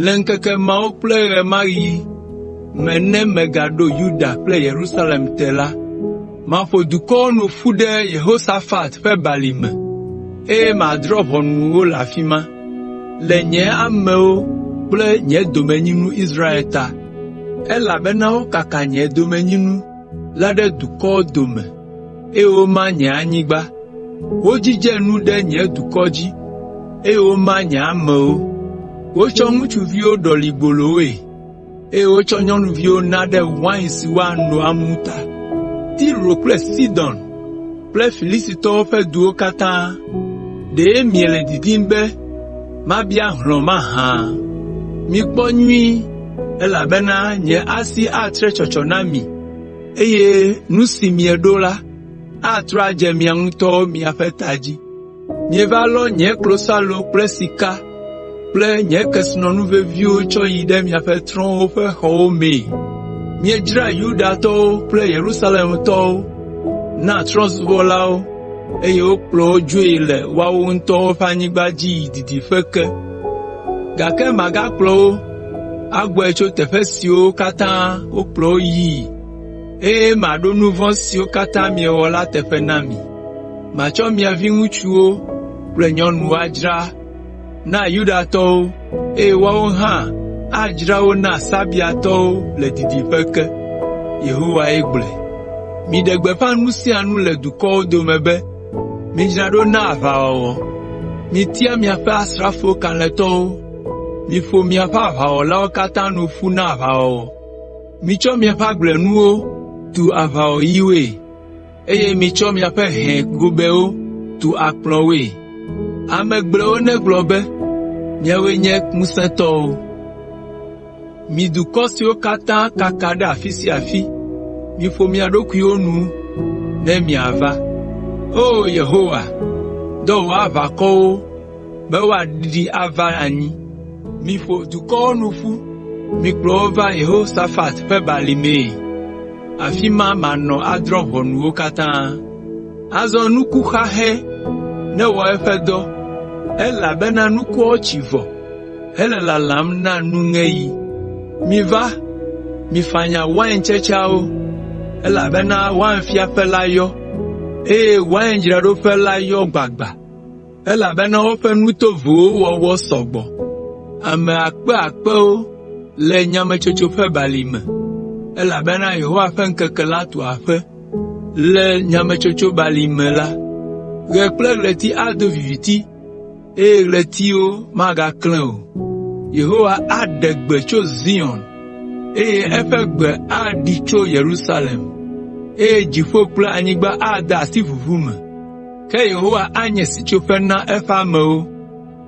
Le ŋkeke mawo kple ɣemaɣi me ne megaɖo Yuda kple Yerusalem te la, maƒo dukɔwo nu ƒu ɖe Yehosafat ƒe Balime, eye madrɔ̃ ʋɔnu wo le afi ma, le nye amewo kple nye domenyinu Israel ta.” “Elabena wokaka nye domenyinu la ɖe dukɔwo dome, eye woma nye anyigba. Wodzidze nu ɖe nye dukɔ dzi, eye woma nye amewo. Wotsɔ ŋutsuviwo ɖɔli gbolowoe, eye wotsɔ nyɔnuviwo na ɖe wain si woano amu ta. Tiro kple Sidon kple Filistitɔwo ƒe duwo katã, ɖe miele didim be mabia hlɔ̃ mahã? Mikpɔ nyuie, elabena nye asi atre tsɔtsɔ na mi, eye nu si mieɖo la, atrɔ adze miawo ŋutɔ miaƒe ta dzi. Mieva lɔ nye klosalo kple sika kple nye kesinɔnu veviwo tsɔ yi ɖe miaƒe trɔ̃wo ƒe xɔwo mee. Miedzra Yudatɔwo kple Yerusalemtɔwo na trɔ̃subɔlawo eye wokplɔ wo dzoe le woawo ŋutɔ ƒe anyigba dzi yi didiƒe ke. Gake magakplɔ wo agbɔe tso teƒe siwo katã wokplɔ wo yii, eye maɖo nu vɔ̃ siwo katã miewɔ la teƒe na mi. Matsɔ mia viŋutsuwo kple nyɔnuwo adzra na Yudatɔwo, eye woawo hã adzra wo na Sabeatɔwo le didiƒe ke.” Yehowae gblɔe. “Miɖe gbeƒã nu sia nu le dukɔwo dome be, ‘Midzra ɖo na aʋawɔwɔ! Mitia miaƒe asrafo kalẽtɔwo, miƒo miaƒe aʋawɔlawo katã nu ƒu na aʋawɔwɔ. Mitsɔ miaƒe agblenuwo tu aʋawɔyiwoe. eye mitsɔ miaƒe hɛ gobɛwo tu akplɔwoe. Ame gblɔewo negblɔ be, ‘Miawoe nye ŋusẽtɔwo, mi dukɔ siwo katã kaka ɖe afi sia afi, miƒo mia ɖokuiwo nu ne miava.’ ” O Yehowa, dɔ wò aʋakɔwo, be woaɖiɖi ava anyi. Miƒo dukɔwo nu ƒu, mikplɔ wo va Yehosafat ƒe Balimee. Afi ma manɔ adrɔ̃ ʋɔnu wo katã.” Azɔ nuku xaxɛ newɔ eƒe dɔ, elabena nukuawo tsi vɔ hele lalam na nuŋeɣi. “Miva, mifanya waintsetseawo, elabena wainfiaƒe la yɔ, eye waindzraɖoƒe la yɔ gbagba. elabena woƒe nu tovowo wɔwɔ sɔ gbɔ. Ame akpe akpewo le nyametsotso ƒe balime, elabena Yehowa ƒe ŋkeke la tu aƒe. Le nyametsotso balime la, ɣe kple ɣleti ado viviti, eye ɣletiwo magaklẽ o. Yehowa aɖe gbe tso Zion, eye eƒe gbe aɖi tso Yerusalem, eye dziƒo kple anyigba ade asi ʋuʋu me. Ke Yehowa anye sitsoƒe na eƒe amewo,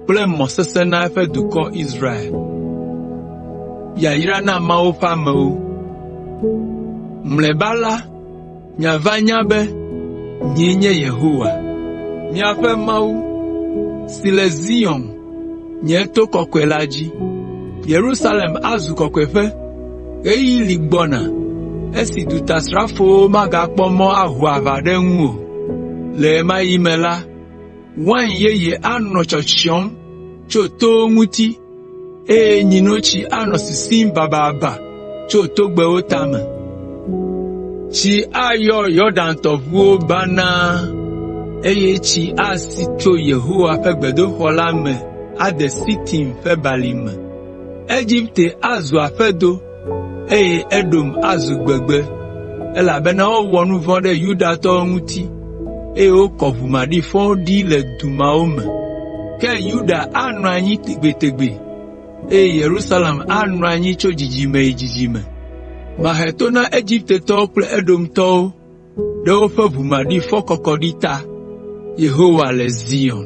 kple mɔ sesẽ na eƒe dukɔ Israel. Yayra na Mawu ƒe amewo! Mlɔeba la, miava nya be nyee nye Yehowa, miaƒe Mawu, si le Zion nye to kɔkɔe la dzi. Yerusalem azu kɔkɔeƒe. Ɣeyiɣi li gbɔna esi dutasrafowo magakpɔ mɔ aho aʋa ɖe eŋu o. Le ɣe ma ɣi me la, wain yeye anɔ tsyɔtsyɔm tso towo ŋuti, eye nyinotsi anɔ sisim bababa. tso togbɛwo tame. Tsi ayɔ Yɔdan tɔʋuwo banaa, eye tsi asi tso Yehowa ƒe gbedoxɔ la me ade Sitin ƒe Balime. Egipte azu aƒedo, eye Edom azu gbegbe, elabena wowɔ nu vɔ̃ ɖe Yudatɔwo ŋuti, eye wokɔ ʋu maɖifɔwo ɖi le du mawo me. Ke Yuda anɔ anyi tegbetegbe. eye Yerusalem anɔ anyi tso dzidzime yi dzidzime. Mahe to na Egiptetɔwo kple Edomtɔwo ɖe woƒe ʋu maɖifɔ kɔkɔɖi ta.” Yehowa le Zion.